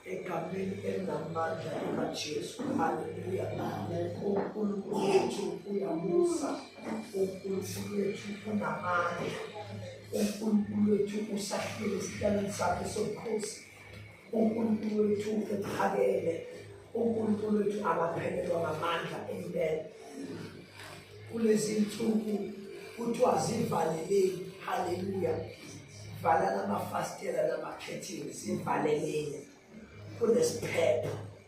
egameni elinamandla likaJesu. Haleluya. UNkulunkulu wethu uyamusa, uNkulunkulu wethu unamandla, uNkulunkulu wethu usahlele esihlalweni sakhe sobukhosi. uNkulunkulu wethu uphakeme uNkulunkulu wethu akaphelelwa ngamandla impela kulezi nsuku kuthiwa zivaleleni haleluya vala namafastela namakhethingi zivaleleni kunesiphepho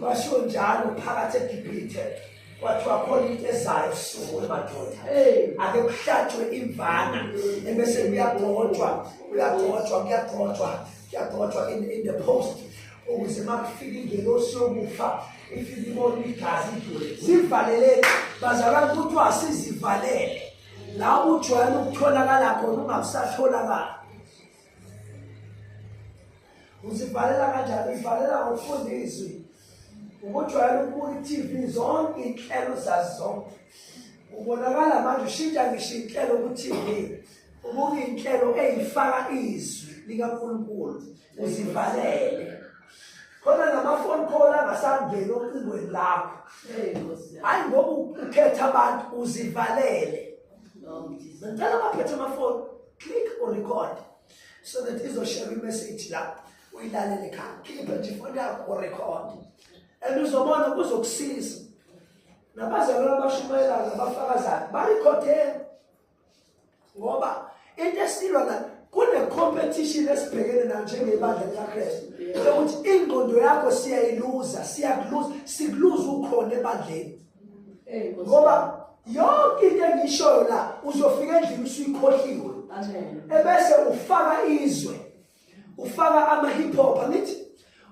kwasho njalo phakathi egibhithe kwathiwa khona into ezayo suku emadoda ake kuhlatshwe imvana ebese kuyagcotshwa kuyagcotshwa kuyagcotshwa kuyagcotshwa in the post ukuze uma kufika ingelosi yokufa ifike ibona igazi sivaleleni bazalwane kuthiwa sizivalele la ujwayele ukutholakala khona ungakusatholakala uzibhalela kanjani uzibhalela ngokufunda izwi ukujwayela ukubuka i-tv zonke iy'nhlelo zazi zonke ubonakala manje ushintsha ngisho iy'nhlelo ku-tv ubuka iy'nhlelo ey'faka izwi likankulunkulu uzivalele khona namafoni call angasangeni ocingweni lakho hhayi ngoba ukhetha abantu uzivalele No, Jesus. Ngicela abaphethe amafoni click or record so that izoshare imessage la uyilalele ekhaya. Khipha nje ifoni yakho or record. And uzobona kuzokusiza. Nabazalwane abashumayelayo nabafakazayo barekhode ngoba into esilwa la kune-competition esibhekene nayo njengebandla likakristu yokuthi ingqondo yakho siyayiluza siyakuluza sikuluza ukhona ebandleni ngoba yonke into engishoyo la uzofika endlini usuyikhohliwe ebese ufaka izwe ufaka ama-hip hop angithi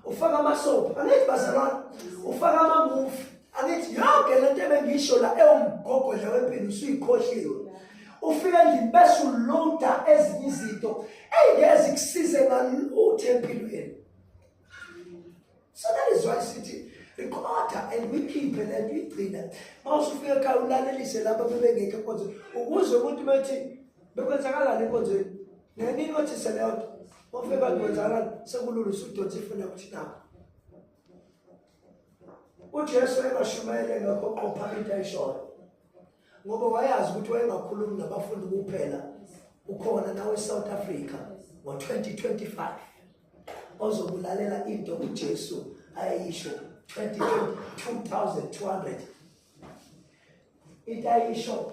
ufaka amasoap angithi bazalwane ufaka amamuvi angithi yonke le nto ebengisho la ewumgogodla wempilo usuyikhohliwe ufike endlini bese uloda ezinye izinto eyingeze kusize ngalutho empilweni so that is why sithi recorder and wikhiphe le nto igcina uma usufika ekhaya ulalelise laba bebengekho enkonzweni ukuze umuntu bethi bekwenzakalani enkonzweni nenini othi seleyo nto ofike bantu kwenzakalani sekulula usudonsa ifuna ukuthi nabo ujesu ebashumayele ngakho qopha into ayishoyo ngoba wayazi ukuthi wayengakhulumi nabafundi kuphela ukhona nawe e-south africa ngo-2025 ozokulalela into uJesu ayisho 2200 into ayisho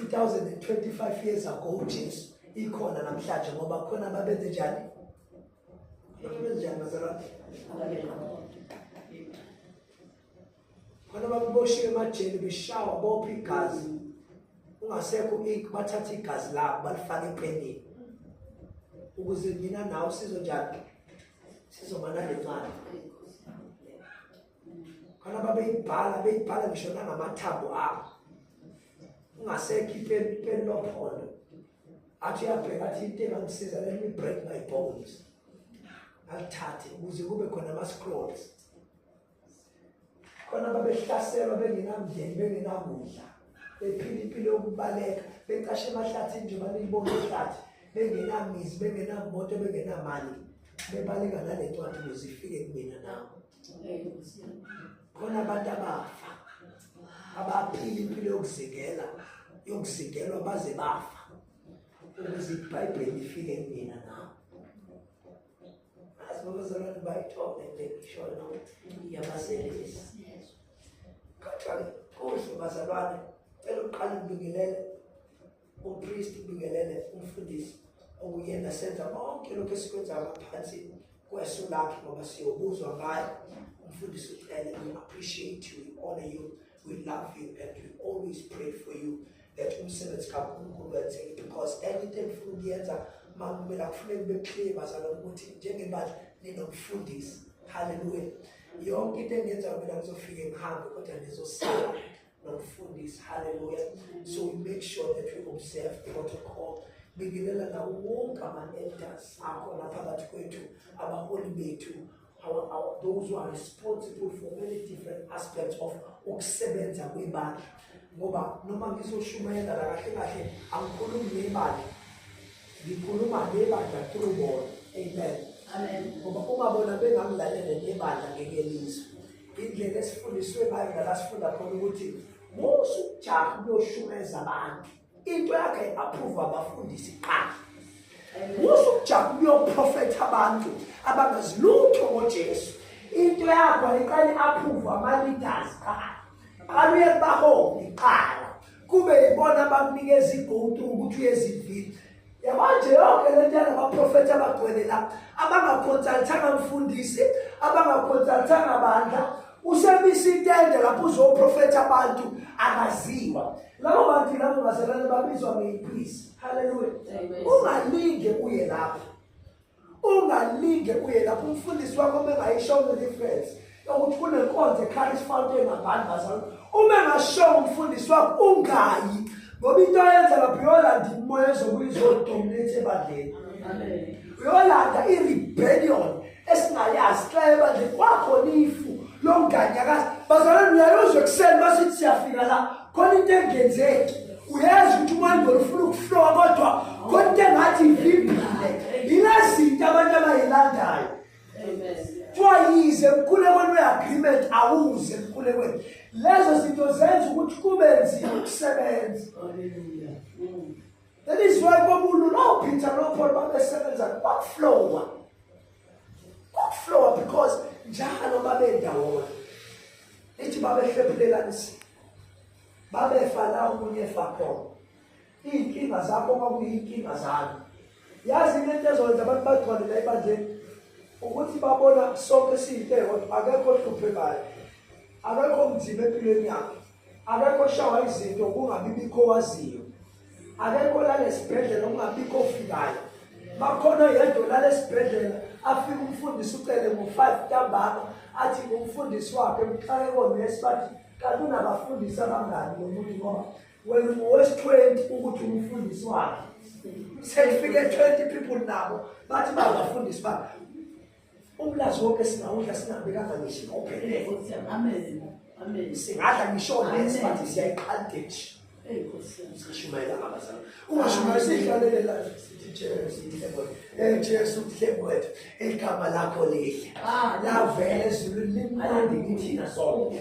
2025 years ago uJesu ikhona namhlanje ngoba khona babenze njani babenze njani bazalwane khona bakuboshiwe emajele beshawa bopha igazi ungasekho ink bathatha igazi labo balifake epenini ukuze mina nawe sizonjani sizomana le ncane khona babeyibhala beyibhala ngisho nangamathambo abo ungasekho ipeni lophondo athi uyabheka athi into engamsiza let me break my bones alithathe ukuze kube khona ama-scrolls khona babehlaselwa bengenamndeni bengenakudla bephila impilo yokubaleka becashe emahlathini nje banilibona ihlathi bengenamizi bengenamoto bengenamali bebaleka nale ncwadi ukuze ifike kumina nawe khona abantu abafa abaphila impilo yokuzingela yokuzingelwa baze bafa ukuze ibhayibheli ifike kumina nawe Azibuzalwane bayithole nje ngisho yabaselisa. Kodwa kuhle bazalwane cela uqale ubingelele umpristi ubingelele umfundisi okuyena senza konke lokho esikwenza ngaphansi kweso lakhe ngoba siyobuzwa ngayo umfundisi ucele we appreciate you we honor you we love you and we always pray for you that umsebenzi kaNkulunkulu wenzeke because anything ngifuna ukuyenza makumele akufuneki beclear bazalwane ukuthi njengebandla ninomfundisi haleluya yonke into engenza mina ngizofike ngihambe kodwa ngizosala nomfundisi haleluya so we make sure that we observe protocol bingelela nawo wonke ama-elders akhona phakathi kwethu abaholi bethu Our, our, those who are responsible for many different aspects of ukusebenza kwebandla ngoba noma ngizoshumayela la kahle kahle angikhulumi ngebandla ngikhuluma ngebandla through bona amen amen ngoba uma bona bengangilalele nebandla ngeke lizwe indlela esifundiswe ngayo nala sifunda khona ukuthi musu ujaha uyoshumeza abantu into yakhe approve abafundisi qha musu ukujaba uyoprofetha abantu abangazilutho ngoJesu into yakho iqale approve ama leaders qha qala uye kubaholi qala kube yibona abakunikeza igotu ukuthi uyezivile yabanje yonke le nto yalabaprofethi abagcwele la abangakhonsalithanga mfundisi abangakhonsalithanga bandla usemisa itende lapho uzoprofetha abantu akaziwa labo bantu labo bazalwane babizwa ngeyiphisi halleluya ungalinge uye lapho ungalinge uye lapho umfundisi wakho uma engayishongo i-reference yokuthi kunenkonzo ekhaya isifanto engabani bazalo uma engashongo umfundisi wakho ungayi ngoba into ayenza lapho uyolanda imoya ezobuye izodominate ebandleni uyolanda i-rebellion esingayazi xa ebandleni kwakhona ifu lomnganyakazi bazalwane uyayozwa ekuseni basithi siyafika la khona into engenzeki uyazi ukuthi umandolo ufuna ukuhlowa kodwa khona into engathi ivimbile yila zinto abantu abayilandayo kuthiwa yize emkhulekweni we-agreement awuze emkhulekweni lezo zinto zenza ukuthi kube nzima ukusebenza that is why kwabulu nopeter nopaul babesebenza kwakuflowa kwakuflowa because njalo babendawona lithi babehlephulelanisile babefa la omunye efa khona iy'nkinga zakho kwakuyiy'nkinga zami yazi into ento ezokwenza abantu bagcwale la ebandleni ukuthi babona sonke siyinto eyodwa akekho ohluphekayo akekho mzima empilweni yakhe akekho shawa izinto kungabi bikho waziyo akekho olala esibhedlela ungabikho ofikayo bakhona yedwa olala esibhedlela afike umfundisi ucele ngo-five ntambama athi ngumfundisi wakhe mxake konesi bathi kanti unabafundisi abangani lo muntu ngoba wena ngowesi-twenty ukuthi umfundisi wakhe sekufike twenty people nabo bathi bangafundisi bakhe Umlazi wonke singawudla singabekanga ngisho ngophelele. Amen. Amen. Singadla ngisho lesi bathi siyayiqandesh. Hey Nkosi yami. Sishumayela abazali. Ungashumayela sihlalele la sithi Jesu inhlebo. Eh Jesu inhlebo wethu. Igama lakho lihle. Ah, lavela ezulwini limnandi kithina sonke.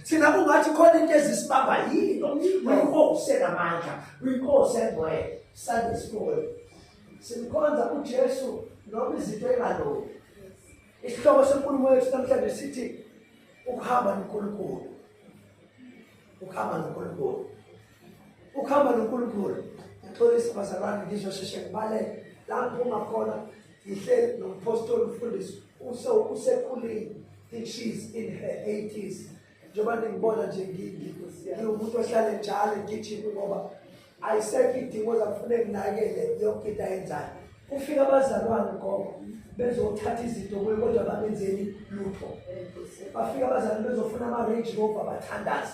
thina kungathi khona into ezisibamba yini uyinkosi enamandla uyinkosi engcwele sande sikhona simkhonza ujesu noma izinto engalungi isihloko senkulumo yethu namhlanje sithi ukuhamba nonkulunkulu ukuhamba nonkulunkulu ukuhamba nonkulunkulu ngixolisa bazalwane ngizosheshe ngibalele la ngiphuma khona ngihleli nompostoli mfundisi usekhulile i-cheese in her 80s njengoba ningibona nje ngiwumuntu ohlale njalo ngigijimi ngoba ayisekho idingo zakufune nginakele yonke into ayenzayo kufika abazalwane ngoba bezothatha izinto kuye kodwa bangenzeli lutho bafika abazalwane bezofuna ama-range rover bathandaze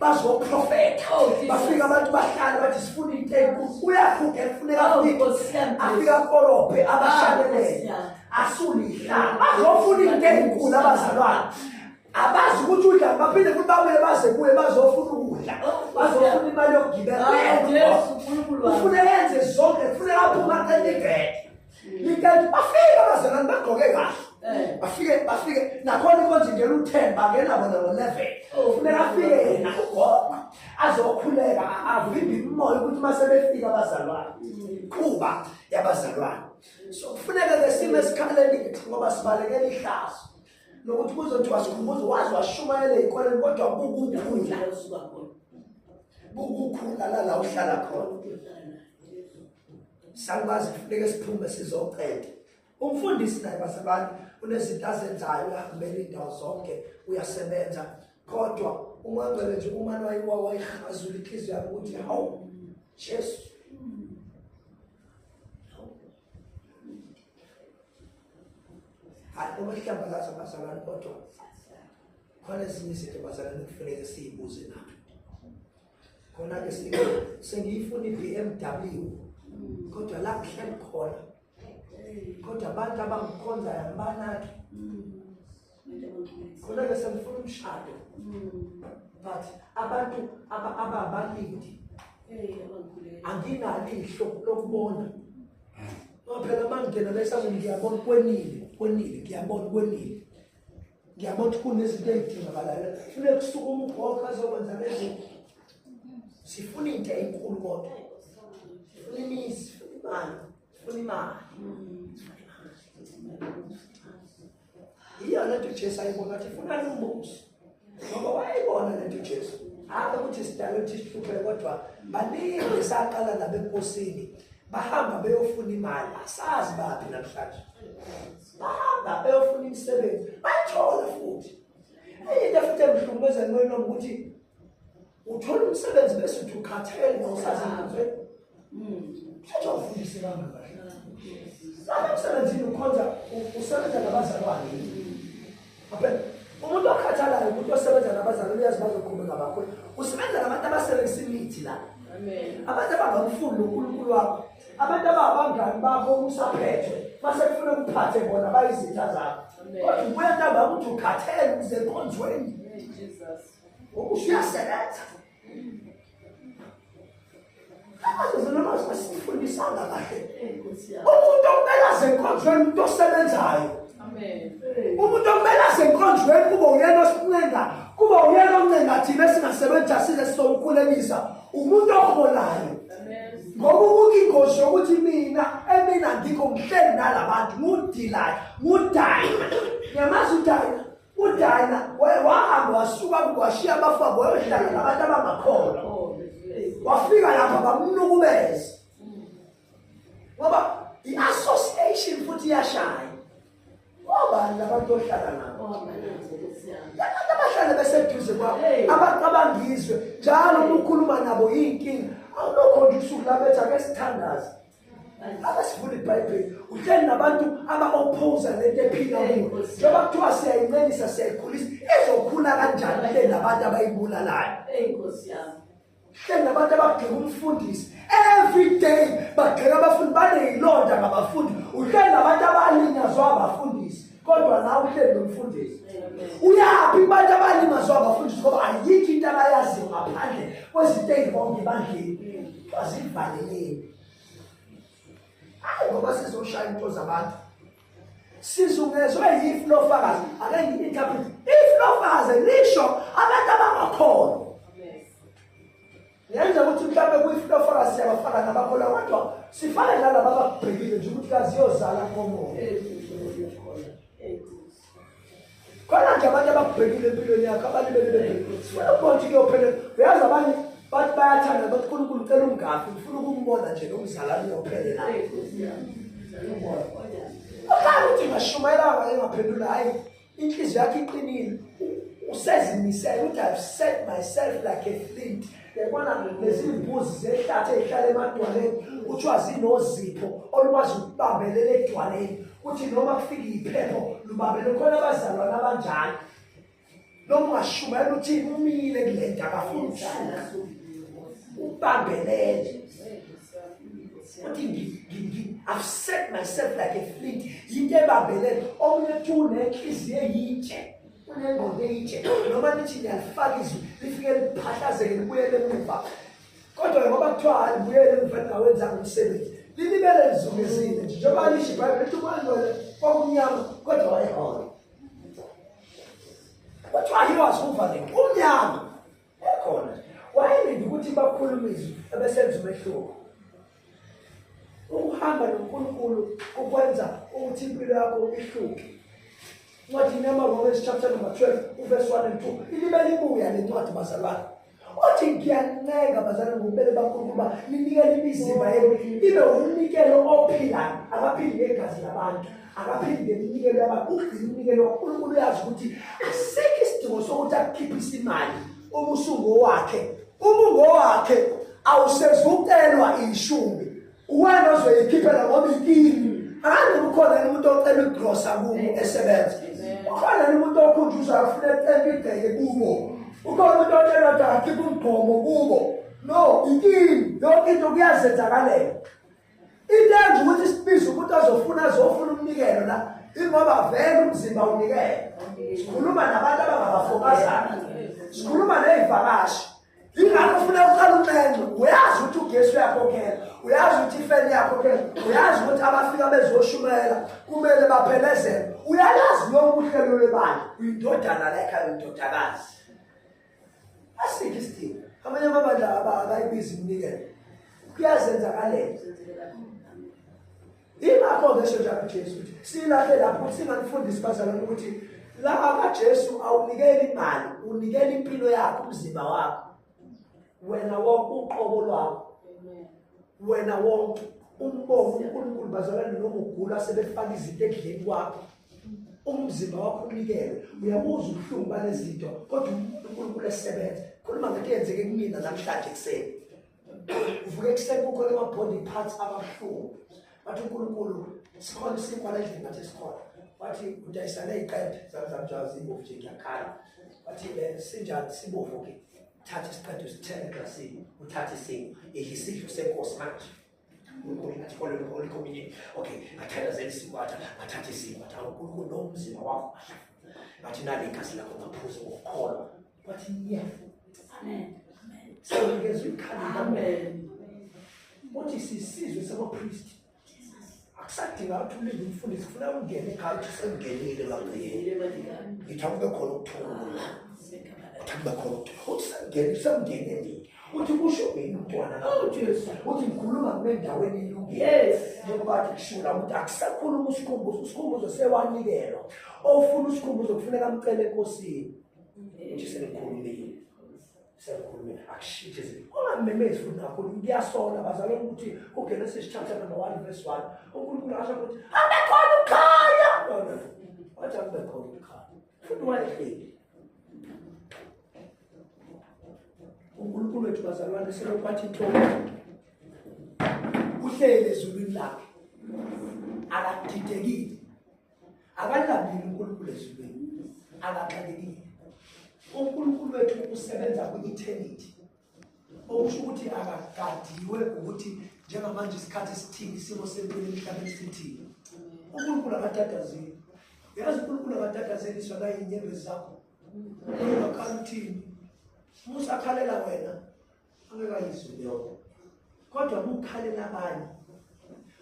bazoprofetha oh, bafika abantu bahlale bathi sifuna into enkulu uyakhuphe kufuneka oh, afika kolophe ah, abashalelele asulihlala bazofuna into enkulu abazalwane abazi ukuthi udla baphinde futhi babuye baze kuye bazofuna ukudla oh, bazofuna imali yokugibela ah, ufuneka yenze zonke kufuneka aphuma qela ibhede Likanti bafike abazalwane bagqoke kahle. Eh. Bafike bafike nakhona konje nje uthemba ngena bona ngo 11. Ufuneka afike yena ugoba azokhuleka avimbe imoya ukuthi mase befika abazalwane. Qhuba yabazalwane. So kufuneka ke sime esikhaleni ngoba sibalekela ihlazo. Nokuthi kuzothiwa sikhumbuzo wazi washumayela ikoleni kodwa kukukhula. Kukukhula la la uhlala khona. Salwazi kufuneka siphume sizoqeda. Umfundisi naye basebani unezinto azenzayo uhambela indawo zonke uyasebenza kodwa umangcele nje uma lwayiwa wayihazula inhliziyo yakhe ukuthi hawu Jesu hayi uma sihlambalaza abazalwane kodwa khona ezinye izinto bazalwane kufuneka siyibuze nathi khona ke sengiyifuna i-bmw kodwa la ngihleli khona kodwa abantu abangikhonzayo ngibanaki khona ke sengifuna umshado but abantu ababalindi anginalihlo lokubona ngoba phela uma ngingena la esangweni ngiyabona kwenile kwenile ngiyabona kwenile ngiyabona ukuthi kunezinto ey'dingakalayo fune kusukuma ugogo azokwenza lezinto sifuna into enkulu kodwa sifuna imizi sifuna imali sifuna imali iyona nto ujesu ayibona ukuthi ifuna lumbuso ngoba wayibona le nto ujesu hhayi ukuthi sidala ukuthi sihluphe kodwa baningi saqala nabekosini bahamba beyofuna imali asazi baphi namhlanje bahamba beyofuna imisebenzi bayithola futhi enye into futhi emhlukumeza ncono ukuthi uthola umsebenzi bese uthi ukhathele ngosazanzwe mthetho hmm. awufundisi kanga kahle lapha emsebenzini ukhonza usebenza nabazalwane umuntu okhathalayo umuntu osebenza nabazali uyazi bazoqhubeka bakho usebenza nabantu abasebenzisa imithi la abantu abangamfuni nonkulunkulu wakho abantu ababangani bakho usaphethwe mase kufuna ukuphathe bona bayizitha zakho kodwa ubuya ntambama ukuthi ukhathele ukuze enkonzweni ngokusho uyasebenza asifundisanga kahle umuntu okumele azenkonzweni umuntu osebenzayo umuntu okumele azenkonzweni kube uyena osincenga kube uyena oncenga thina esingasebenzi asile sizomkhulekisa umuntu oholayo ngoba ukuke ingozi yokuthi mina emina ngikho ngihleli nalabantu ngudilaya ngudayi yamazi udayina udina wahamba wasuka washiya abafabo wayohlala nabantu abangakhona wafika lapha bamnukubeza ngoba i-association futhi iyashaya obani labantu ohlala nabo labantu abahlale beseduze kwabo abaqabangizwe njalo uma ukhuluma nabo yiyinkinga awulokho nje usuku labethi ake sithandaze abasifunda ibhayibheli uhleli nabantu aba-opposa lento ephila kuyo njengoba kuthiwa siyayincengisa siyayikhulisa izokhula kanjani le nabantu abayibulalayo hleli nabantu abagxeka umfundisi every day bagxeka abafundi baneyilonda ngabafundi uhleli nabantu abalinyazwa abafundi kodwa la uhleli nomfundisi uyaphi kubantu abalimazwa abafundisi ngoba ayikho into abayaziyo ngaphandle kwezinto eyibonke ebandleni bazivaleleni hayi ngoba sizoshaya into zabantu sizungezwe yifu lofakazi ake ngi-interpret if lofakazi lisho abantu abangakhona Yenza ukuthi mhlawumbe kuyifloforus yabafana nabakholwa kodwa sifane nalaba abakubhekile nje ukuthi kazi yozala komoya. Khona nje abantu abakubhekile empilweni yakho abalibele bebhekile. Sifuna ukubona ukuthi kuyophelela. Uyazi abanye bathi bayathanda bathi uNkulunkulu ucela ungafi ngifuna ukumbona nje nomzalwane uyophelela. Ukhanga ukuthi ngashumayela wayengaphendula hayi inhliziyo yakhe iqinile usezimisele ukuthi i've set myself like a flint yabona nezimbuzi zehlathi ezihlala emadwaleni kuthiwa zinozipho olukwazi ukubambelela edwaleni kuthi noma kufika iphepho lubambele khona abazalwane abanjalo noma ungashumayela ukuthi umile kule nto akafuni ukusuka ubambelele uthi i've set myself like a flint yinto ebambelele omunye uthi unenhliziyo eyitshe unengqondo eyitshe noma nithi niyalifaka izwi lifike liphahlazeke libuyele emuva kodwa ngoba kuthiwa alibuyele emuva lingawenzanga umsebenzi lilibele lizungezile nje njengoba lisho ibhayibheli lithi umalwele kwakumnyama kodwa wayehona kuthiwa he was moving umnyama Yakhona wayelinde ukuthi bakhulumiswe abesenza umehluko. Ukuhamba noNkulunkulu kukwenza ukuthi impilo yakho ihluke. Ncwadini yamaRomans chapter number 12 uverse 1 and 2 ilibe libuya le ncwadi bazalwane. Othi ngiyancenga bazalwane ngokubele bakhulunkulu uba ninikele imizimba yenu ibe umnikelo ophilayo abaphili ngegazi labantu. akaphinde iminikelo yabantu ugcina umnikelo wankulunkulu uyazi ukuthi asikho isidingo sokuthi akukhiphise imali uma usungo wakhe uma ungowakhe awusezukelwa ishumi uwena ozoyikhiphela ngoba ikini angazi ukhona yini umuntu ocela igrosa kubo esebenza ukhona yini umuntu okhunjuza afuna ecela ibheke kubo ukhona umuntu otshela ukuthi akhiphe umgqomo kubo no ikini yonke into kuyazenzakalela into enje ukuthi sibize umuntu azofuna azofuna umnikelo la ingoba vele umzimba unikele sikhuluma nabantu abangabafokazana sikhuluma ney'vakashi ingakho ufuna uqala unxenxe uyazi ukuthi ugesi uyakhokhela uyazi ukuthi ifeni yakhokhela uyazi ukuthi abafika bezoshumayela kumele baphelezele uyalazi lokuhlelo lwebandla uyindodana la ekhaya uyindodakazi asikho isidingo amanye amabandla abayibizi iminikelo kuyazenzakalela ingakho-ke esho njalo ujesu ukuthi silahle lapho ukuthi singanifundisi bazalwane ukuthi la kajesu awunikeli imali unikela impilo yakho umzimba wakho wena wonke uqobo lwakho wena wonke umbongo unkulunkulu bazalwane noma ugula sebefaka izinto ekudleni kwakho umzimba wakho unikele uyabuza ubuhlungu balezinto kodwa uNkulunkulu esebenza khuluma ngento eyenzeke kumina namhlanje ekuseni uvuke ekuseni kukhona ama-body parts ababuhlungu bathi uNkulunkulu sikhona isinkwa lendlini ngathi sikhona wathi udayisane iqede zamzamjazi ibovu nje ngiyakhala wathi eh, sinjani sibovu-ke thatha isiqede usithele eglasini uthathe isingo idla isidlo senkosi manje uNkulunkulu ngathole lokho olikhomile okay ngathandazela isikwata ngathatha isikwata uNkulunkulu nomzimba wakho ngathi nali igazi lakho ngaphuza ukukholwa wathi yeah amen sawukezwa ikhala amen uthi sisizwe sabapristi akusadinga ukuthi ulinde umfundisi kufuna ungene ekhaya uthi sengenile ngakuyile ngithi akube khona ukuthula uthi akube khona ukuthula uthi sengene sengenelile uthi kusho mina umntwana oh, uthi ngikhuluma ngibendaweni ilungile njengoba athi kushula ukuthi akusakhuluma usikhumbuzo usikhumbuzo sewanikelwa ofuna usikhumbuzo kufuneka amcele enkosini nje senikhulumile senikhulumile akushintshe izinto ungamemezi futhi kakhulu kuyasola bazalwa ukuthi kugenesis chapter number one verse one unkulunkulu asho ukuthi abekhona ukukhanya wathi akubekhona ukukhanya futhi wayehleli unkulunkulu wethu bazalwane selokwathi tho uhlele ezulwini lakhe akadidekile akalambile unkulunkulu ezulwini akaxakekile unkulunkulu wethu usebenza kwi-eternity okusho ukuthi akagadiwe ukuthi njengamanje isikhathi esithini isimo sempilo emhlabeni sithini unkulunkulu akadadazeli yazi unkulunkulu akadadazeliswa nayinyembezi zakho Ukhalithi. Musa khalela wena. Angekayizwe leyo. Kodwa ukukhalela abanye.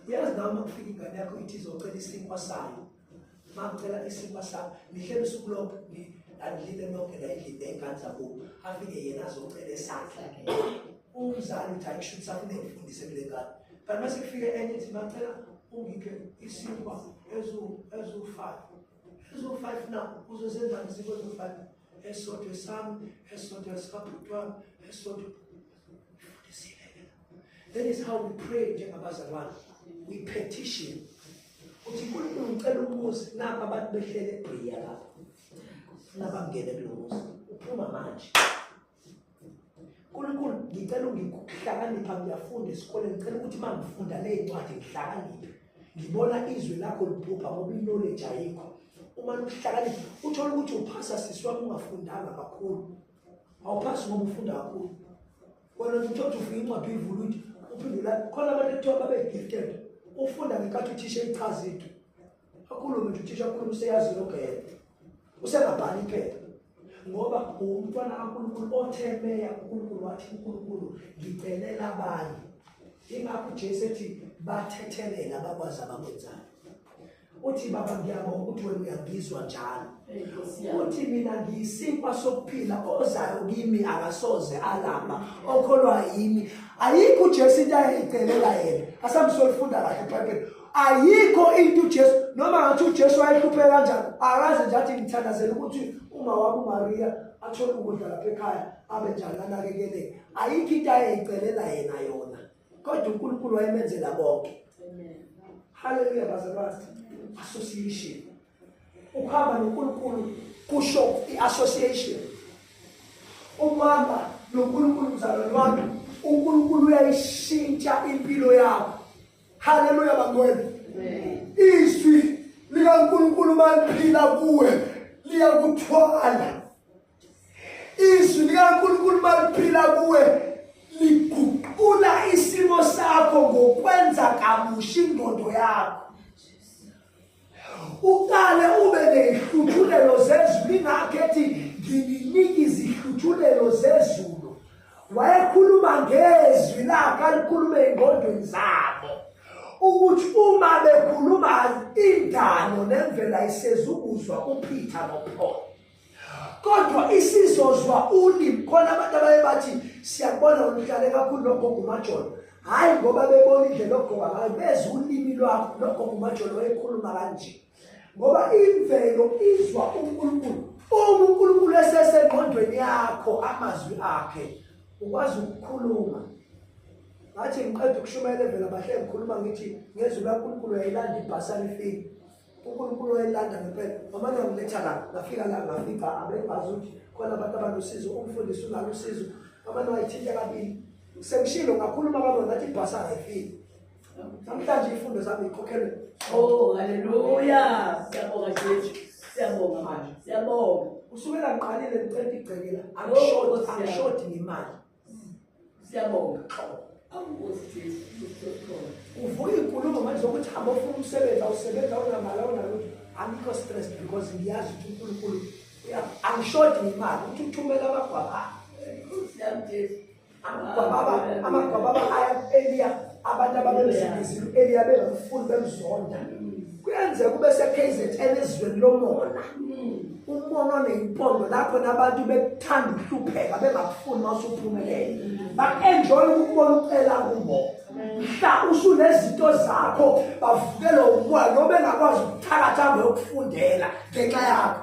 Uyazi nawe uma kufika ingane yakho ithi izocela isinkwa sayo. Uma kucela isinkwa sayo, nihlele usuku lonke alilile lonke la endlini ney'ngane zakubo afike yena azocela esakhe umzali uthi ayisho ukuthi afune ngifundise kule ngane kanti mase kufike enye ithi macela ungiphe isinkwa ezu-five ezofana uzosenzani siko ezofana esisodwa esami esisodwa esikabhuti wami esisodwa that is how we pray njengabazalwane we petition uthi nkulunkulu ngicela umuzi nabo abantu behlele ebhiya lapha nabangene kulo muzi uphuma manje Nkulunkulu ngicela ungikuhlakanipha ngiyafunda esikoleni ngicela ukuthi uma ngifunda le ncwadi ngihlakaniphe ngibona izwi lakho liphupha ngoba iknowledge ayikho uma luhlakanipha uthole ukuthi uphasa sisi wami ungafundanga kakhulu awuphasi ngoba ufunda kakhulu wena uthi uthi ufika incwadi uyivula uthi uphindula khona abantu ekuthiwa babe-gifted ufunda ngenkathi uthisha echaza into akhulume nje uthisha akhulume useyazi logele usengabhali iphepha ngoba uwumntwana kaNkulunkulu othe meya uNkulunkulu wathi uNkulunkulu ngicelela abanye ingakho uJesu ethi bathethelela abakwazi abakwenzayo uthi baba ngiyabonga ukuthi wena uyangizwa njalo uthi mina ngiyisinkwa sokuphila ozayo kimi akasoze alamba okholwa yimi ayikho uJesu into ayicelela yena asamsolifunda kahle iBhayibheli ayikho into uJesu noma ngathi uJesu wayehlupheka kanjani akaze nje athi ngithandazela ukuthi uma wami uMaria athole ukudla lapha ekhaya abe njani anakekeleke ayikho into ayeyicelela yena yona kodwa uNkulunkulu wayemenzela bonke amen haleluya bazalwane association ukuhamba noNkulunkulu kusho i-association ukuhamba noNkulunkulu mzalwane wami uNkulunkulu uyayishintsha impilo yakho haleluya bangwena izwi likaNkulunkulu maliphila kuwe liyakuthwala izwi likaNkulunkulu maliphila kuwe liguqula isimo sakho ngokwenza kabusha ingqondo yakho uqale ube neyihluthulelo zezulu ingakho ethi ngininika izihluthulelo zezulu wayekhuluma ngezwi lakhe alikhulume engqondweni zabo ukuthi uma bekhuluma indalo nemvela isezukuzwa uphitha nopholo kodwa isizozwa ulimi khona abantu abaye bathi siyakubona oluhlale kakhulu lokho ngumajolo hhayi ngoba bebona indlela ogqoka ngayo bezwa ulimi lwakho lokho ngumajolo wayekhuluma kanje ngoba imvelo izwa unkulunkulu uma unkulunkulu esesengqondweni yakho amazwi akhe ukwazi ukukhuluma ngathi ngiqeda ukushumayela evela bahle ngikhuluma ngithi ngezwi lankulunkulu yayilandibhasa lifike uNkulunkulu wayelanda ngempela mama ngamletha la ngafika la ngafica abebazi ukuthi khona abantu abanosizo umfundisi unalo usizo mama wayithinta kabili sengishilo ngakhuluma kabona ngathi ibhasi angayifiki namhlanje ifundo zami ikhokhelwe oh haleluya siyabonga jesu siyabonga manje siyabonga kusukela ngiqalile ngicela igcekela angishoti angishoti ngemali siyabonga xolo uvuka inkulumo manje zokuthi hamba ofuna umsebenzi awusebenzi awunamali awunalutho angikho stress because ngiyazi ukuthi unkulunkulu angishodi imali ukuthi uthumela amagwaba amagwababa aya eliya abantu ababemsebenzile eliya bengamfuni bemzonda kuyenzeka kube seKZN ezweni lomona umona oneyimpondo lapho nabantu bekuthanda ukuhlupheka bengakufuni uma usuphumelele ba-enjoye ukubona ucela kubo mhla usunezinto zakho bavukelwa umoya noma engakwazi ukuthakatha ngeyokufundela ngenxa yakho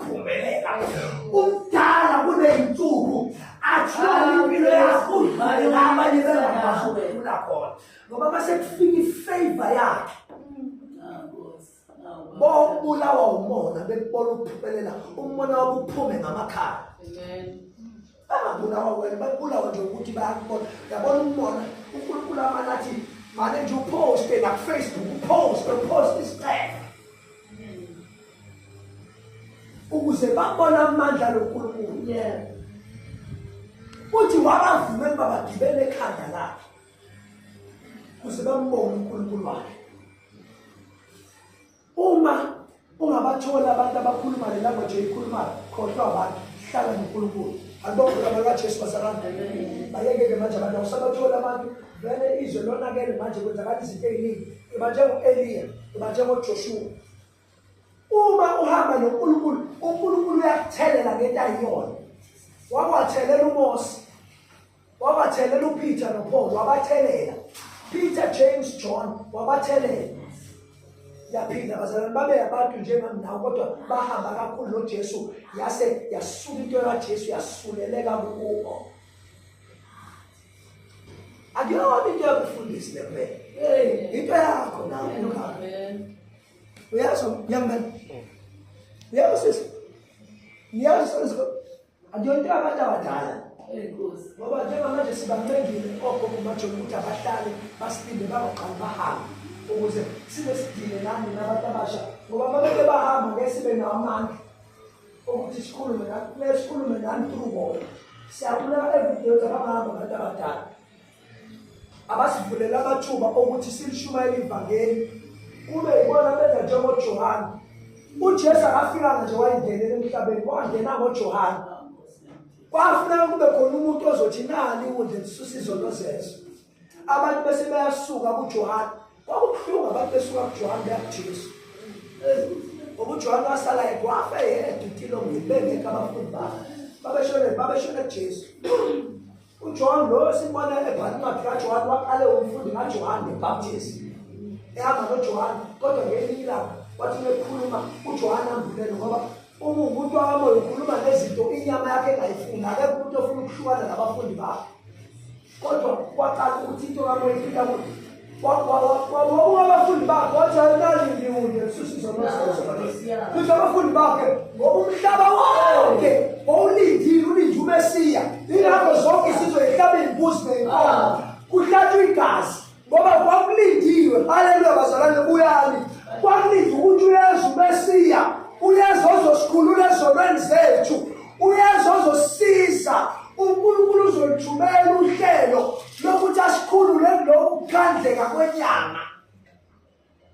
qhubeleka umdala kuneyinsuku athola impilo yakho udlale ngabanye bengabasho befuna khona ngoba mase kufika ifavor yakhe bobulawa umona bekubona ukuphumelela umona wakuphume ngamakhala bangabulawa wena babulawa nje ukuthi bayakubona yabona ukubona unkulunkulu amane athi mane nje uphoste nakufacebook uphoste uphoste isicelo ukuze babone amandla lonkulunkulu yebo uthi wabavumela uba bagibele ekhanda lakhe kuze bambone unkulunkulu wakhe Uma ungabatholi abantu abakhuluma le language eyikhulumayo khohlwa abantu hlala noNkulunkulu akubokhola bakaJesu basakangenelile bayekeke manje abantu akusabatholi abantu vele izwe lonakele manje kwenzakala izinto eziningi iba njengo-eliya iba njengojoshuwa uma uhamba noNkulunkulu uNkulunkulu uyakuthelela ngento ayiyona wakwathelela uMose wabathelela upeter nopaul wabathelela peter james john wabathelela yaphinda bazalwane babe abantu njengami nawo kodwa bahamba kakhulu nojesu yase yasuka into kajesu yasuleleka kubo akuyona into yakufundisi lempela into yakho nawe uyazi young man uyazi uyazi Akuyonto abantu abadala. Enkosi. Ngoba njengamanje sibamengile ogogo bajole ukuthi abahlale basilinde bangaqali bahambe ukuze sibe sidile nami nabantu abasha ngoba uma beke bahamba ngeke sibe nawo amandla ukuthi sikhulume nami kumele sikhulume nami through bona siyabulala evideyo zabangahamba abantu abadala abasivulela amathuba okuthi silishumayele ivangeli kube yibona benza njengojohane ujesu akafikanga nje wayingenela emhlabeni wangena ngojohane kwafuneka kube khona umuntu ozothi nani ukundle lisusa izono zezo abantu bese bayasuka kujohane kwakubuhlungu abantu besuka kujohane beya kujesu ubujohane wasala kwafe yedwa itilongile bengekho abafundi bakhe babeshone babeshone kujesu uJohn lo sibona ebhala incwadi kaJohn waqale umfundi kaJohn the Baptist ehamba noJohn kodwa ngelinye ilanga wathi mekhuluma uJohn ambulele ngoba uma umuntu wakamoya ukhuluma nezinto inyama yakhe engayifuni akekho umuntu ofuna ukuhlukana nabafundi bakhe kodwa kwaqala ukuthi into kamoya ifika kuthi wabuka abafundi bakhe wathi ayinali ngiyuye kususiza amafuthi abafundi bakhe ngoba umhlaba wonke wawulindile ulinde umesiya ingakho zonke isizwe ehlabeni kuzi neyinkomo kuhlatshwa igazi ngoba kwakulindiwe haleluya bazalwane buyani kwakulinde ukuthi uyeza umesiya uyeza ozosikhulula ezonweni zethu uyeza ozosisiza unkulunkulu uzolithumela uhlelo lokuthi asikhulule lokhu kukhandleka kwenyama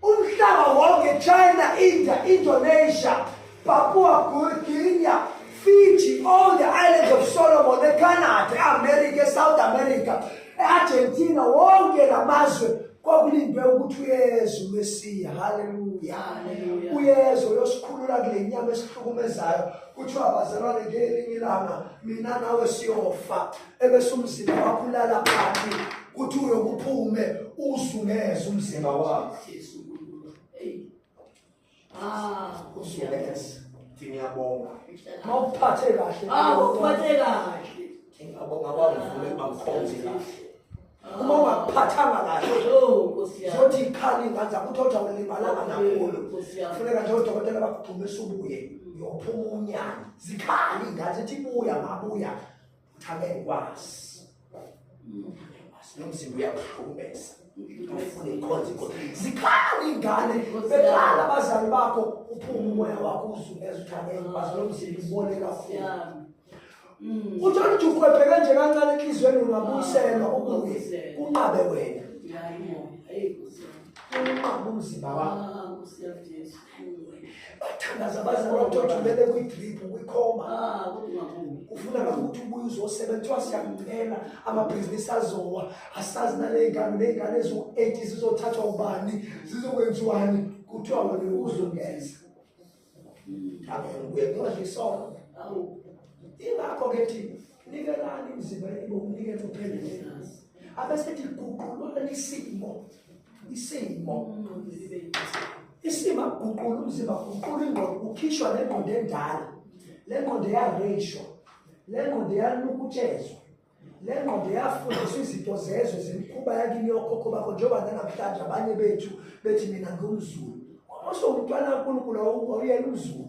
umhlaba wonke china india indonesia papua guinea fiji all the islands of solomon ecanada eamerica esouth america eargentina wonke la mazwe kwakulindwe ukuthi uyezwe umesiya haleluya uyezwe uyosikhulula kule nyama esihlukumezayo kuthiwa bazalwane ngelinye ilanga mina nawe siyofa ebese umzimba wakho ulala phansi kuthi uyokuphume uzungeze umzimba wakho ah uzungeze ngiyabonga mawuphathe kahle ah uphathe kahle ngiyabonga bangivule bangikhonze kahle uma ungaphathanga kahle zothi ikhali ngathi akuthi othi awulimalanga nakhulu funeka nje odokotela bakugxumisa ubuye uyophuma unyana zikhali ngathi ithi buya ngabuya Thame ngikwazi. Ngikwazi nomzimba uyakuhlukumeza. Ufuna inkonzo inkonzo. Zikhala ingane, bekhala abazali bakho uphume umoya wakho uzungeza uthame ngikwazi nomzimba ubone kakhulu. Mm. Uthola ukuthi ukhwephe kanje kancane enhliziyweni ungabuyiselwa ubuye kunqabe wena. Hayi mo. Hey. Unqabe umzimba wakho. Ah, usiyajesu. bathandaza baze bathothumele kwi-drip kwikhoma ah, ufuna kakhulu ukuthi ubuye uzosebenza kuthiwa siyakucela amabhizinisi azowa asazi naley'ngane ney'ngane eziwu-eight zizothathwa ubani zizokwenziwani kuthiwa wena uzungeza hmm. abe ubuye kuyohle isono ingakho-ke thina nikelani imizimba yenu ngokunikela uphelele nazi abesethi guqulwani isimo isimo isimo akuguqula umzimba guqula ingqondo kukhishwa le ngqondo endala le ngqondo eyareyishwa le ngqondo eyanukutshezwa le ngqondo yafundiswa izinto zezwe zemikhuba yakini yokhokho bakho njengoba nanamhlanje abanye bethu bethi mina ngumzulu osewumntwana kankulunkulu awuyena umzulu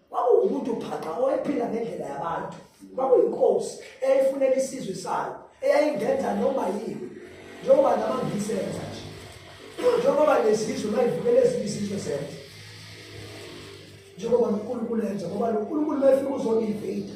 kwakuwumuntu phaqa owayephila ngendlela yabantu kwakuyinkosi eyayifunela isizwe sayo eyayingenza noma yini njengoba namangisenza nje njengoba nezizwe mayivukela ezinye izizwe zenza njengoba nonkulunkulu enza ngoba nonkulunkulu mayefika uzoniveyida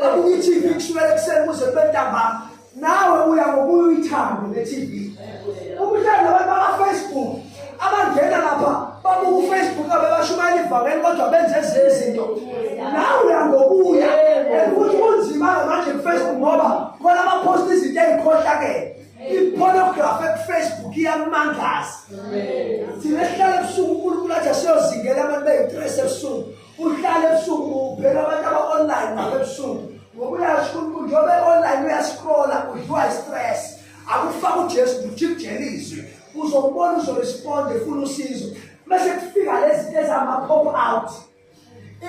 Babuka iTV kusukela ekuseni kuze kube ntambama. Nawe uya ngokuya uyithande le TV. Umhlanje abantu baka-Facebook abangena lapha babuka ufacebook abebashumayela ivangeli kodwa benze ezinye izinto nawe uyangokuya futhi kunzima-ke manje kufacebook ngoba khona abaphosta izinto ey'khohlakele ipornografi ekufacebook iyakumangaza thina esihlala ebusuku unkulunkulu athi asiyozingela abantu beyi-tres ebusuku uhlala ebusuku ubheka abantu aba-online nabo ebusuku ngoba uyazi unkulunkulu njengoba e-online uyascrolla udliwa i-stress akufaka ujesu ujikujela izwi uzokubona uzoresponde funa usizo mese kufika lezi zinto ezama-pop out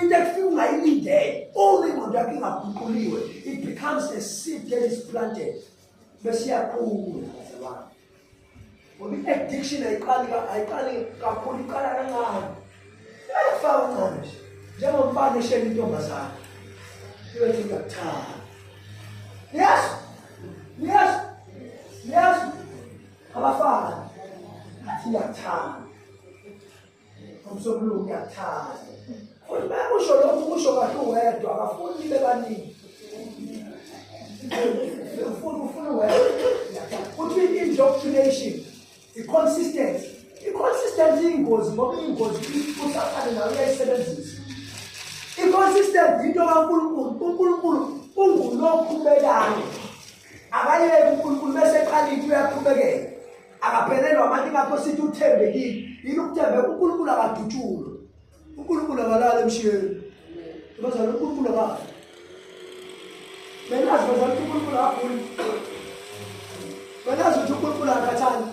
into ekufika ungayilindele uma ingqondo yakho ingaguquliwe it becomes a seed that is planted besiyakhula bazalwane ngoba i-addiction ayiqali ayiqali kakhulu iqala kancane iyafaka uncane nje njengomfana eshela intombazane iyothi ngiyakuthanda yes yes yes abafana athi ngiyakuthanda umsombuluko uyathanda futhi bayakusho lokhu kusho kahle uwedwa abafuni bebaningi ufuna ufuna uwedwa futhi i-indoctrination i-consistency i-consistency iyingozi ngoba iyingozi usathane nayo uyayisebenzisa i-consistency into kankulunkulu unkulunkulu ungulokhu bekayo akayeke unkulunkulu bese eqalile uyaqhubekela akaphelelwa manje ngakho sithi uthembekile yini ukuthembeka unkulunkulu akadutshulwe unkulunkulu akalali emshiyeni bazala unkulunkulu akali benazi bazala ukuthi unkulunkulu aguli benazi ukuthi unkulunkulu akathani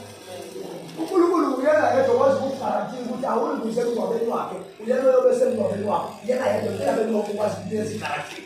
unkulunkulu uyena yedwa kwazi ukugarantii ukuthi awulunguze emngcwabeni wakhe uyena oyobe semngcwabeni wakhe yena yedwa uyena benoku kwazi ukuthi ezigarantii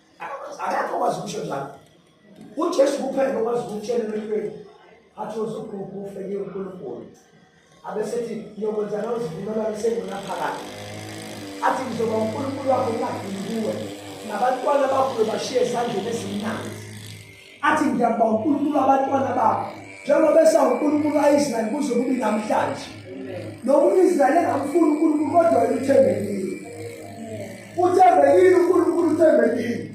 akakho kwazi ukusho njalo ujesu kuphela okwazi ukutshela emhlweni athi uzugugu ufeke unkulunkulu abesethi ngiyokwenza nozivumelwano sengunaphakade athi ngizoba unkulunkulu wakho ungagili kuwe nabantwana bakho bashiye esandleni esimnandi athi ngiyabonga uNkulunkulu abantwana bakho njengoba esawuNkulunkulu kaIsrael kuze kube namhlanje noma uIsrael engamfuni uNkulunkulu kodwa uthembekile uthembekile uNkulunkulu uthembekile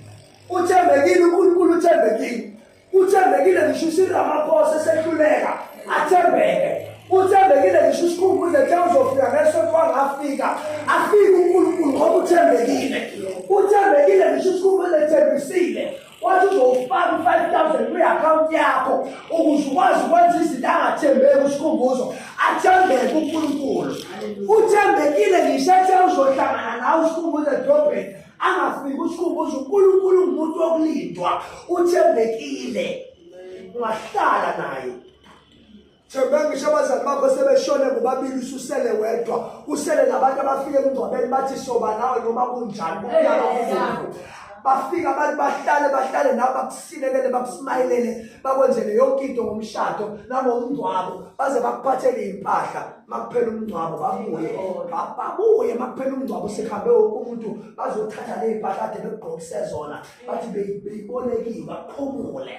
uthembekile uNkulunkulu uthembekile uthembekile ngisho uSiramaphosa esehluleka athembeke uthembekile ngisho usikhumbuze kuthe uzofika ngesonto wangafika afike unkulunkulu ngoba uthembekile uthembekile ngisho usikhumbuze ethembisile wathi uzowufaka u-five thousand kwi-akhawunti yakho ukuze ukwazi ukwenza izinto angathembeki usikhumbuzo athembeke unkulunkulu uthembekile ngisho ethe uzohlangana nawe usikhumbuzo edrobheni angafiki usikhumbuzo unkulunkulu ngumuntu wokulindwa uthembekile ungahlala naye Themba ngisho abazali bakho sebeshone bobabili ususele wedwa usele nabantu abafike kungcwabeni bathi soba nawe noma kunjani umnyaka kuvuvu bafika abantu bahlale bahlale nawe bakusilekele bakusimayelele bakwenzele yonke into ngomshado nangomngcwabo baze bakuphathele impahla makuphela umngcwabo babuye babuye makuphela umngcwabo sekuhambe wonke umuntu bazothatha lezimpahla ade bekugqokise zona bathi beyibolekiwe baphumule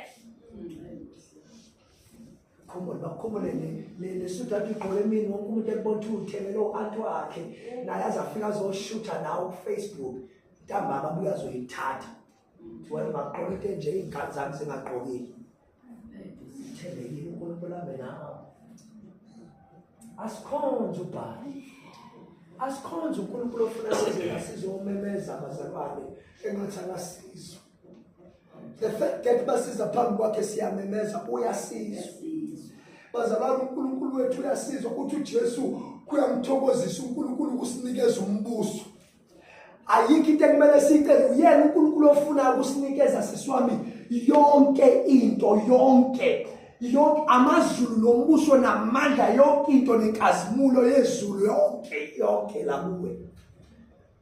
khumbule bakhumbule lesudu athi ugqoke emini wonke umuntu ekubona ukuthi uthengele u-anti wakhe naye azafika azoshutha nawo kufacebook ntambama abuye azoyithatha wena ungagqoka into enje iy'ngane zami zingagqokile zithembekile unkulunkulu ambe nawo asikhonze ubhali asikhonze unkulunkulu ofuna sizela sizomemeza abazalwane engathi akasizwa the fact that basiza phambi kwakhe siyamemeza uyasiza bazalwane uNkulunkulu wethu uyasiza ukuthi uJesu kuyamthokozisa uNkulunkulu ukusinikeza umbuso ayikho into ekumele sicele uyena uNkulunkulu ofuna ukusinikeza siswami yonke into yonke yonke amazulu nombuso namandla yonke into nenkazimulo yezulu yonke yonke la kuwe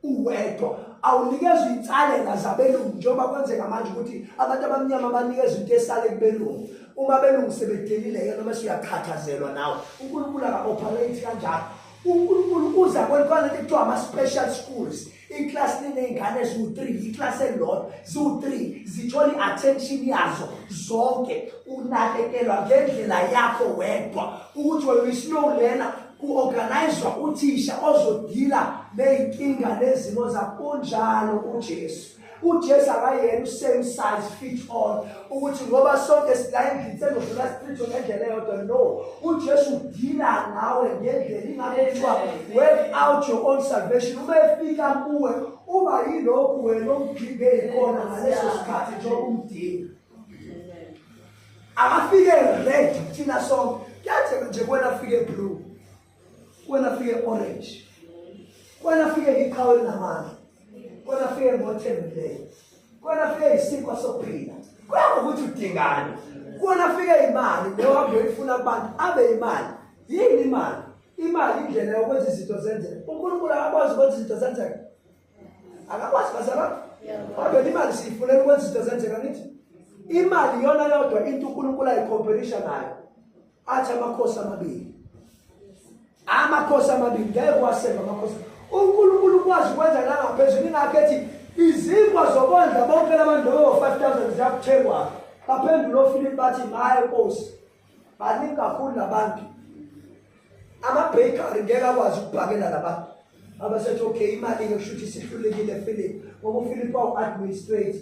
uwedwa awunikezwa insalela zabelungu njengoba kwenzeka manje ukuthi abantu abamnyama banikezwa into esale kubelungu uma belungu sebedelile yena uma siyakhathazelwa nawe uNkulunkulu aka-operate kanjalo uNkulunkulu uza kwentwana kuthiwa ama-special schools iklasi liney'ngane ziwu-three iklasi elilodwa ziwu-three zithola i-attention yazo zonke unakekelwa ngendlela yakho wedwa ukuthi wena uyisilow lena Ku-organizwa uthisha ozodila ney'nkinga nezimo zakunjalo uJesu. uJesu akayena usame size fit all ukuthi ngoba sonke silayendlini sezodlula sichitho ngendlela eyodwa no uJesu udila ngawe ngendlela ingakho kuthiwa work out your own salvation uma efika kuwe uba yilokhu wena omgibeli kona ngaleso sikhathi njengoba umdinga akafike red thina sonke kuyatheka nje kwena afike blue kwena afike orange kwena afike ngiqhawe linamandla kwena afike ngothembileyo kwena afike isinkwa sokuphila kuya ngokuthi udingani kwena afike imali nehambe uyifuna kubantu abe imali yini imali imali indlela yokwenza izinto zenzeke unkulunkulu akakwazi ukwenza izinto zenzeke akakwazi bazalwane kodwa imali siyifunela ukwenza izinto zenzeka ngithi imali iyona yodwa into unkulunkulu ayikhompelisha nayo athi amakhosi amabili amakhosi amabili ngeke kuwasemba amakhosi unkulunkulu ukwazi ukwenza nangaphezulu ingakho ethi izinkwa zokondla bonke labantu bebo-five thousand ziyakuthengwa baphendula ofilini bathi maye nkosi baningi kakhulu labantu ama-bakery ngeke akwazi ukubhakela labantu abasethi okay imali-ke kusho ukuthi sihlulekile philip ngoba uphilip wawu-administrate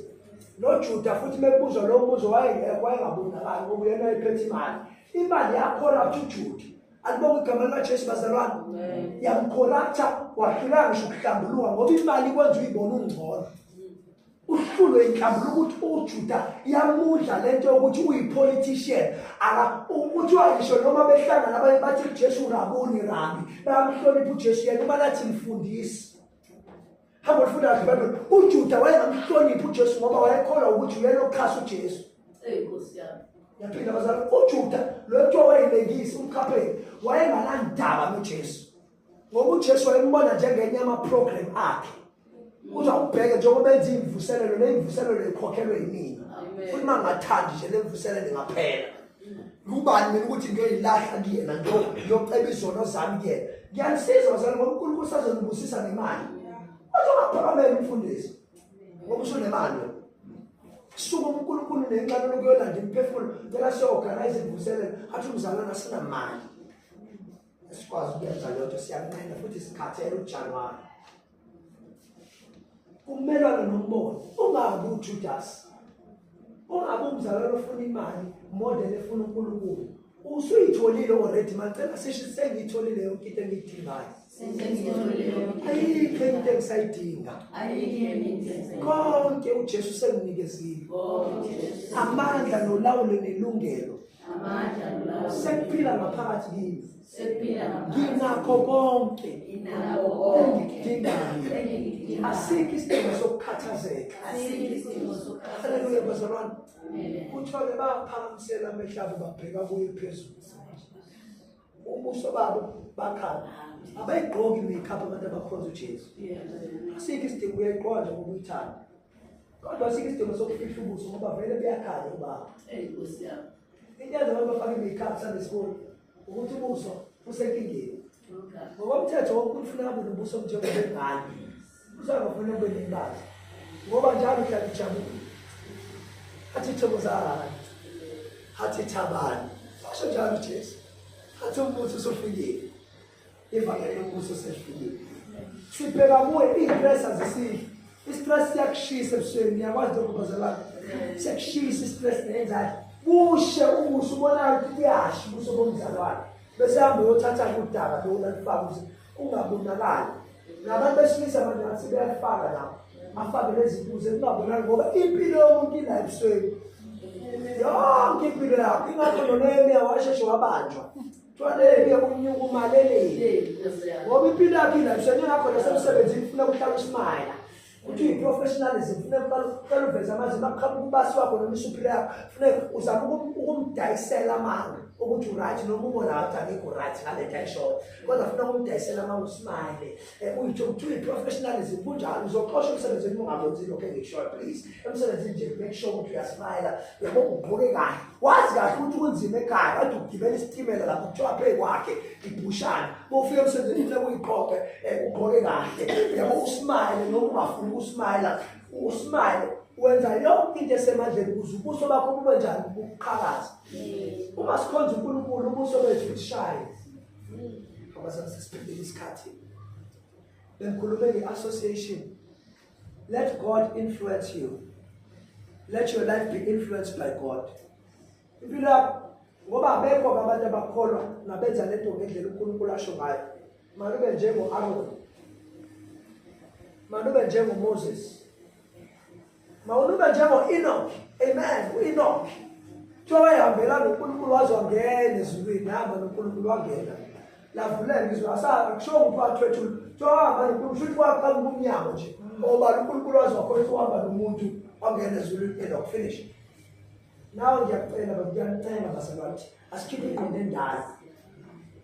nojuda futhi mekubuzwa lowo mbuzo wayengekho wayengabonakali ngoba uyena ephethe imali imali yakhoraptha ujuda alibonga igama likajesu bazalwane yamkhoraptha wahlulanga ngisho ukuhlambuluka ngoba imali ikwenza uyibona ungcono uhlulwe inhlambuluko ukuthi ujuda yamudla le nto yokuthi uyi-politician kuthiwa ngisho noma behlangana abanye bathi ujesu urabuni rabi bayamhlonipha ujesu yena uma lathi mfundisi hamba olifunda kahle bado ujuda wayengamhloniphi ujesu ngoba wayekholwa ukuthi uyena okuxhasa ujesu yaphinda bazala ujuda lo kuthiwa wayelengisi umkhapheni wayenganandaba nojesu ngoba ujesu wayembona njengenye yamaprogram akhe uthi awubheke njengoba enza imvuselelo nemvuselelo ikhokhelwe yimina futhi uma ngathandi nje lemvuselelo ingaphela ngubani mina ukuthi ngiyoyilahla kuyena ngiyoceba izono zami kuyena ngiyanisiza bazali ngoba unkulunkulu sazonibusisa nemali kodwa ungaphakamela umfundisi ngoba usunemali wena suka unkulunkulu nenxano lokuyolanda imiphefumulo cela siyoorganize imvuselelo athi umzalwana sinamali esikwazi ukuyenza leyo nto siyanqena futhi sikhathele ujanuwari kumelwane nombono ungabi ujudasi ungabi umzalwane ofuna imali more than efuna unkulunkulu usuyitholile already macela sisho sengiyitholile yonke into engiyidingayo ayikho into engisayidinga konke ujesu senginikezile amandla nolawulo nelungelo amandla nolawulo sekuphila ngaphakathi kimi sekuphila ngaphakathi nginakho konke nginakho konke engikudingayo asikho isidingo sokukhathazeka asikho isidingo sokukhathazeka haleluya bazalwane kuthiwa ke baphakamisela amehlo abo babheka kuye phezulu ubuso babo bakhala abayigqoki imikhapo abantu abakhonza ujesu asikho isidingo uyayigqoka nje ngoba uyithanda kodwa sike isidingo sokufihla ubuso ngoba vele buyakhala ukuba eyi nkosi yami into yenza abantu bafake i-makeup sanesikole ukuthi ubuso usenkingeni ngokomthetho wokuthi ufuna kube nobuso njengobengane usangafuna kube nembazi ngoba njalo uhlala ijabule athi thobo zahani athi thabani washo njalo ujesu athi umbuthi usufikile ivangeli lombuso sehlukile sibheka kuwe iistress azisidli istress siyakushisa ebusweni niyakwazi lokubazelana siyakushisa istress nenzalo bushe ubuso ubonayo ukuthi kuyasha ubuso bomzalwane bese hambe uyothatha kudaba lona lifaka ukuthi kungabonakali nabantu besilisa manje ngathi beyalifaka lapho afake lezibuze kungabonakali ngoba impilo yomuntu ila ebusweni yonke impilo yakho ingakho nonemiya washeshe wabanjwa Tshwaleke unyuka umalelele. Ngoba impilo yakhe ila mshane ngakho nasemsebenzini ufuna ukuhlala usmayela. Uthi uyiprofessionalism ufuna ukuqala ukuqala uveza amazinga aqhamuka ubasi wakho noma isuphila yakho. Ufuna uzama ukum- ukumdayisela amanga ukuthi uright noma ubona ngathi angikho right ngale nto ayishoyo. Kodwa ufuna ukumdayisela amanga usmayele. Eh, uyitho kuthiwa i-professionalism kunjalo uzoxosha emsebenzini ungabenzi lokho engikushoyo please emsebenzini nje make sure ukuthi uyasmayela yabo ugqoke kahle wazi kahle ukuthi kunzima ekhaya kade ugibela isitimela lapho kuthiwa pheyi kwakhe ibhushana bofika emsebenzini funa kuyiqoqe um eh, ugqoke kahle yabo usmayele noma ungafuni ukusmayela usmayele wenza yonke into esemandleni ukuze ubuso bakho bube njani buqhakaza mm. uma sikhonza unkulunkulu ubuso bethu bushaye abazali sesiphelile isikhathi bengikhulume nge-association let god influence you let your life be influenced by god impilo yakho ngoba abekho abantu abakholwa nabenza lento ngendlela unkulunkulu asho ngayo malube njengo-aroni malube njengomoses mawulube njengo-enoki amen u-enoki kuthiwa wayehambela nonkulunkulu waze wangena ezulwini nahamba nonkulunkulu wangena lavuleka izwi asakusho ukuthi wathwethula kuthiwa wahamba nonkulunkulu futhi waqala ubumnyango nje oba unkulunkulu waze wakhona ukuthi uhamba nomuntu wangena ezulwini enoki finish nawe ngiyakucela bakuyanicela basebathi asikhiphe ingqondo endala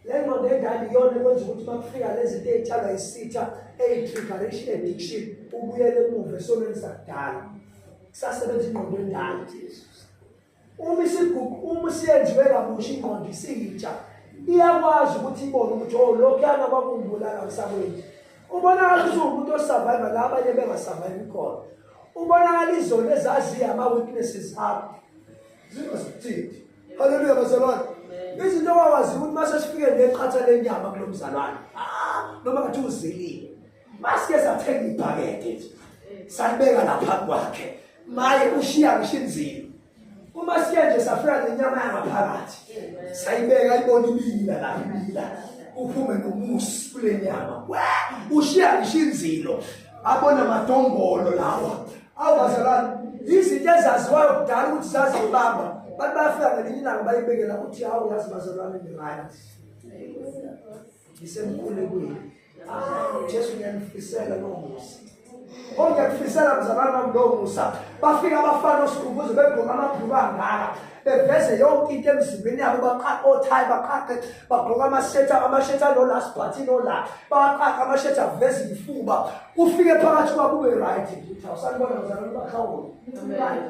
le ngqondo endala iyona ekwenza ukuthi uma kufika lezi nto ey'tshalwa isitha eyi-trigaration addiction ubuyele emuva esonweni sakudala kusasebenza ingqondo endala uma isigugu uma siyenziwe kabusha ingqondo isiyitsha iyakwazi ukuthi ibone ukuthi o oh, lokhuyana kwakumbulala msakweni ubonakala ukuthi uwumuntu osurviva la abanye bengasurvivi khona ubonakala izona ezaziyo ama-weaknesses akho zingosithithi Haleluya bazalwane. Izinto wawazi ukuthi mase sifike neqhatha lenyama kulomzalwane. Ah, noma ngathi uzilile. Masike sathenga ibhakede nje. Salibeka lapha kwakhe. Maye ushiya ngishinzile. Uma siya nje safika nenyama yangaphakathi. Sayibeka ibona ibila lapha ibila. Uphume nomusi kule nyama. Ushiya ngishinzilo. abona madombolo lawa awubazalwane izinto ezaziwayo kudala ukuthi zazibamba bantu bayafika ngelinye ilanga bayibekela ukuthi hawu yazi bazalwane ngirayt ngisemkhulekweni jesu ngiyanifisela loo musa onke kufisela mzalwane bam loo musa bafika abafana osikhumbuzo begoma amabhulu angaka beveze yonke into emzimbeni yabo baqaqa othayi baqaqe bagqoka amashetha amashetha ano-last party nola baqaqa amashetha aveze ifuba ufike phakathi kwabo ube right ngithi awusanibona ngizalona bakhawona right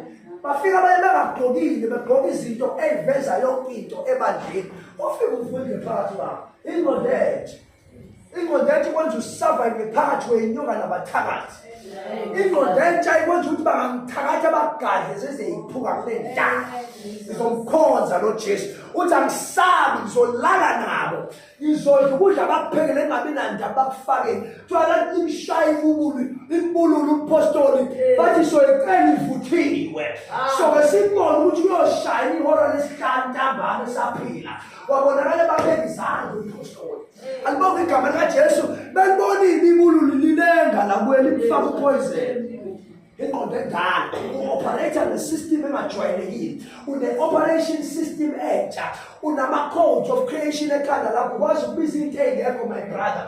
bafika baye bengagqokile begqoka izinto eyiveza yonke into ebandleni ofike ufunde phakathi kwabo ingolethe indoda entsha ikwenza usurvive phakathi kwenyuka nabathakathi indoda entsha ikwenza ukuthi bangamthakathi abagadle sezeyiphuka kule ndala ngizomkhonza lo jesu uthi angisabi ngizolala nabo ngizodla ukudla bakuphekele engabi nandaba bakufakeni kuthiwa kanti imshaye ibubulu ibululu umpostoli bathi soyicela ivuthiwe soke sibone ukuthi uyoshaya ihora lesihlanu ntambama esaphila wabonakala ebaphekisanga umphostoli alibonga igama likajesu belibonile ibululu lilenga lakweli lifaka upoison ingqondo endala u-operator ne-system engajwayelekile une-operation system entsha unama-codes of creation ekhanda lakho kwazi ukubiza into eyingekho my brother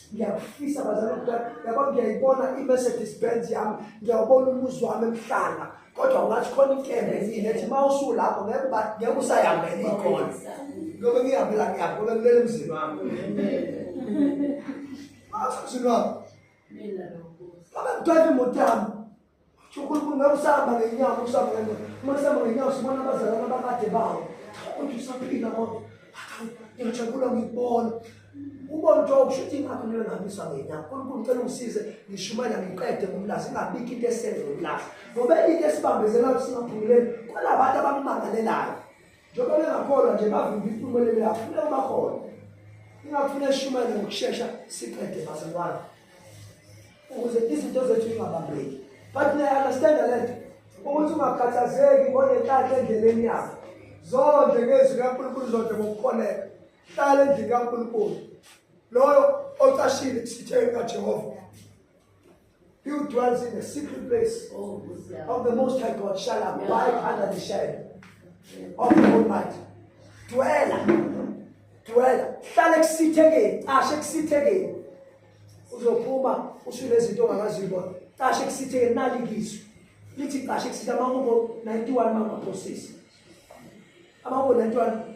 ngiyakufisa bazali mntwana yabo ngiyayibona i-mercedes benz yami ngiyawubona umuzi wami emhlanga kodwa ungathi khona inkembe yini ethi uma usulapho ngeke ngeke usayihambele ikhona ngoba ngiyihambela ngiyaphi ngoba kulele emzini wami mzini wami babe mntwana imoto yami Ukhulukhulu ngabe usahamba ngenyama usahamba ngenyama uma sihamba ngenyama sibona abazalwana abakade bawo kodwa usaphila kodwa ngiyajabula ngikubona ubona ukuthi okusho ukuthi ingakho kumele ngihambiswa ngenyama unkulunkulu ngicela ungisize ngishumayela ngiqede ngomlazi ingabikho into esenze umlazi ngoba into esibambezela ukuthi singaphumeleli kwalabantu abammangalelayo njengoba bengakholwa nje bavimba impumelelo yabo funeka bakhona ingafuna eshumayele ngokushesha siqede bazalwane ukuze izinto zethu ingabambeki but niyaunderstand le nto ukuthi ungakhathazeki ngonenhlanhla endleleni yakho zonde ngezwi likankulunkulu zonde ngokukholeka hlala endlini kankulunkulu loyo ocashile kusitheni kajehova He who dwells in the secret place oh, of the Most High God shall abide under the shadow of the Almighty. Dwela, dwela, hlala ekusithekeni, cashe ekusithekeni. Uzophuma ushule izinto ongakazibona. Cashe ekusithekeni nalikizwe. Lithi cashe ekusitha amahubo 91 mama process. Amahubo 91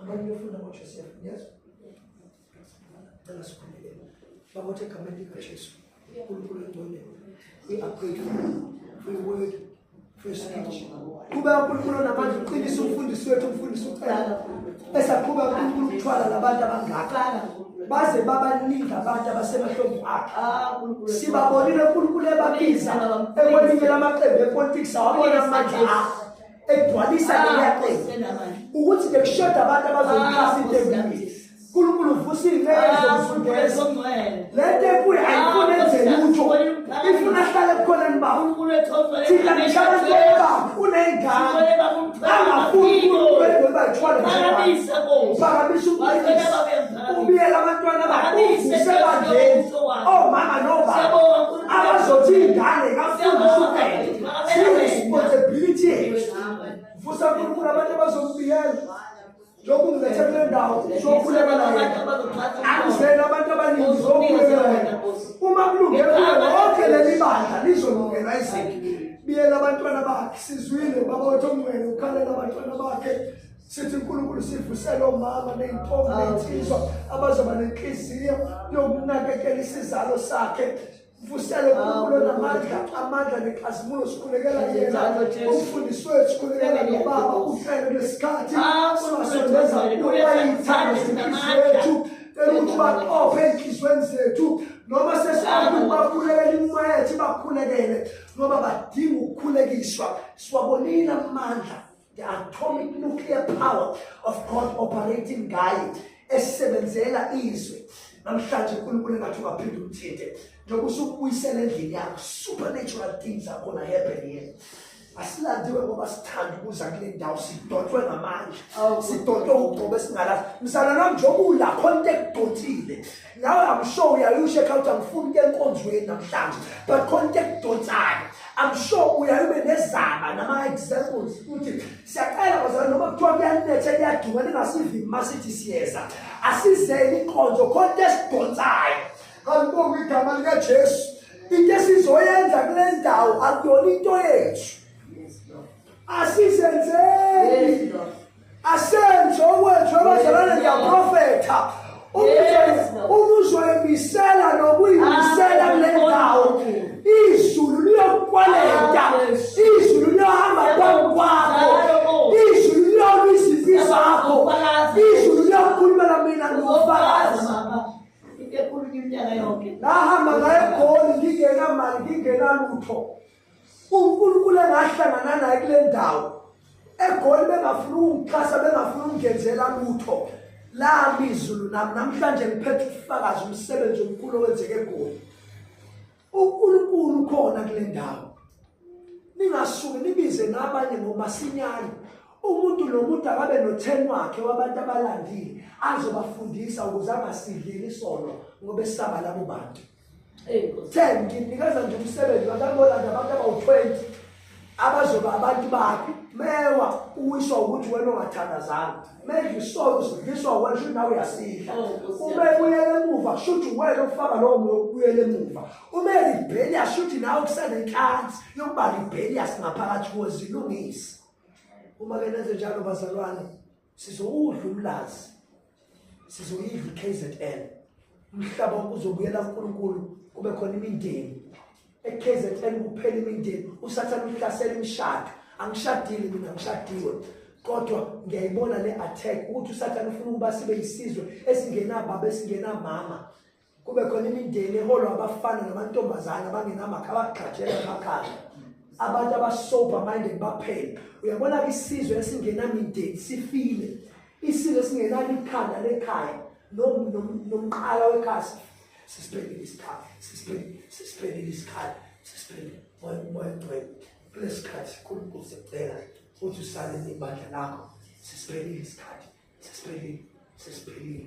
Abantu befunda ngoJoseph, yes? Cela sikhuleke. Bakwethe egameni likaJesu. uNkulunkulu engcwele. I-upgrade for your word, for your speech. Kuba uNkulunkulu namanje uqinisa umfundisi wethu umfundisi ucela. Esaqhuba uNkulunkulu ukuthwala labantu abangakana. baze babaningi abantu abasemahlombe akhe ah, sibabonile unkulunkulu ebabiza ekwelinye lamaqembu epolitics awabona amandla akhe egcwalisa ah, leyaqela ukuthi bekushoda abantu abazoyixhasa ah, into enkulu uNkulunkulu uvusa izinqele zokufundela le nto enkulu ayifuni enze lutho ifuna ahlale kukhona nibaba thina ngihlala kuba uney'ngane angafuni uNkulunkulu engoba ithwale phakamisa ubiyela abantwana bakhe uvuse bandleni omama nobaba abazothi iy'ngane kafundisa ubhele responsibility vusa nkulunkulu abantu abazombiyela lokhu ngilethe kule ndawo sokhuleka naye angizele abantu abaningi zokhuleka naye uma kulunge kuye lonke leli bandla lizolungela izinto biyela abantwana bakhe sizwile baba wethu ongcwele ukhalela abantwana bakhe sithi uNkulunkulu sivusele omama neyintombi nensizwa abazoba nenhliziyo yokunakekela isizalo sakhe Vuselo kulo namandla amandla nexazimulo sikhulekela yena umfundisi wethu sikhulekela nobaba uhlelo lesikhathi sibasondeza kuye bayithanda zinhliziyo yethu cela ukuthi baqophe ezinhliziyweni zethu noma sesifuna ukubakhulekela imimoya yethu ibakhulekele ngoba badinga ukukhulekiswa siwabonile amandla the atomic nuclear power of God operating ngaye esebenzela izwe namhlanje uNkulunkulu engathi ungaphinde umthinte njengoba usukubuyisela endlini yakho supernatural things are gonna happen here asilandiwe ngoba sithanda ukuza kule ndawo sidotshwe ngamandla sidotshwe ugcobo esingalazi mzalwana njengoba ulakho into ekudotshile nawe i'm sure uyayusho ekhaya ukuthi angifuni ke enkonzweni namhlanje but khona into ekudonsayo i'm sure uyayube nezaba nama-examples ukuthi siyaqala bazali noma kuthiwa kuyanetha kuyaduka ningasivimi uma sithi siyeza asizeni inkonzo khona into esidonsayo kalibonga igama likajesu into esizoyenza kule ndawo akuyona into yethu asizenzeni asenze okwethu abazalwane ngiyaprofetha umuzoyimisela nokuyimisela kule ndawo izulu liyokwaleta izulu liyohamba phambi kwakho izulu liyona izimpi zakho izulu liyokhulumela mina ngofakazi nahamba ngayo egoli ngingenamali ngingenalutho uNkulunkulu engahlangana naye kule ndawo egoli bengafuna ukungixhasa bengafuna ukungenzela lutho lami izulu nami namhlanje ngiphethe ukufakaza umsebenzi omkhulu owenzeke egoli uNkulunkulu ukhona kule ndawo ningasuke nibize ngabanye ngomasinyane umuntu nomuntu akabe notheni wakhe wabantu abalandile azobafundisa ukuze angasidleli isono ngoba esaba labo bantu 10 nginikeza nje umsebenzi bakabona nje abantu abawu-20 abazoba abantu bakhe mewa uwiswa ukuthi wena ongathandazanga manje isolo sidliswa wena shuthi nawe uyasidla oh, uma ebuyela emuva shuthi wena ofaka lowo moya ukubuyela emuva uma elibheliya shuthi nawe kusenenhlansi yokuba libheliya singaphakathi kuwe zilungise uma ke nenze njalo bazalwane Sizowudla umlazi. Sizoyidla KZN. Umhlaba uzobuyela kuNkulunkulu kube khona imindeni. EKZN kuphela imindeni usathana uhlasela imishado. Angishadile mina ngishadiwe. Kodwa ngiyayibona le attack ukuthi usathana ufuna ukuba sibe isizwe esingenababa esingenamama. kube khona imindeni eholwa abafana namantombazane abangenamakha abagqajela emakhaya abantu abasober minded baphela uyabona-ke isizwe esingenamindeni sifile isizwe esingenalo ikhanda lekhaya nomqala wekhaya sisiphelile isikhathi sisiphelile sisiphelile isikhathi sisiphelile moya umoya ngcwele kulesi sikhathi unkulunkulu sekucela ukuthi usale nebandla lakho sisiphelile isikhathi sisiphelile sisiphelile